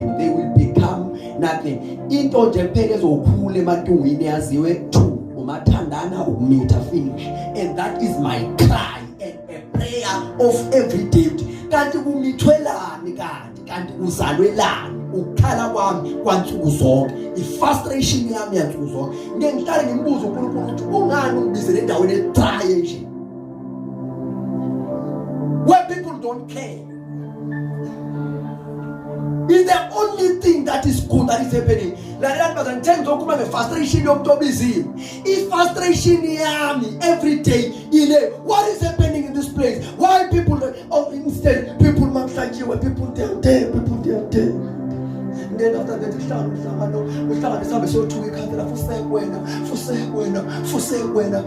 they will become nothing into nje kuphela ezokhula emantungwini yaziwe two umathandana ukumitha finish and that is my cry and a prayer of every day kanti kumithwelani kanti kanti uzalwelani ukukhala kwami kwansuku zonke ifrustration yami yansuku zonke ngeke ngihlale ngimbuze uNkulunkulu ukuthi kungani ungibizele endaweni edraye nje where people don't care Is the only thing that is good that is happening. Lalela bazana ngithe ngizokhuluma nge-frustration yomuntu obiziwe. I-frustration yami every day ile what is happening in this place? Why people oh instead people makuhlanjiwe people they are there people they are there. Then after that uhlala umhlangano uhlangane sihambe siyothuka ikhanda la fuseke wena fuseke wena fuseke wena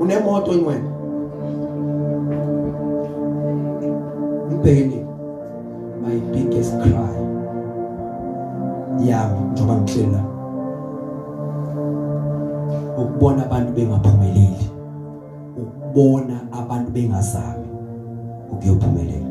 unemoto ingwenya umbhekeni my biggest cry yami njengoba ngihleli la ukubona abantu bengaphumeleli ukubona abantu bengazami ukuyophumelela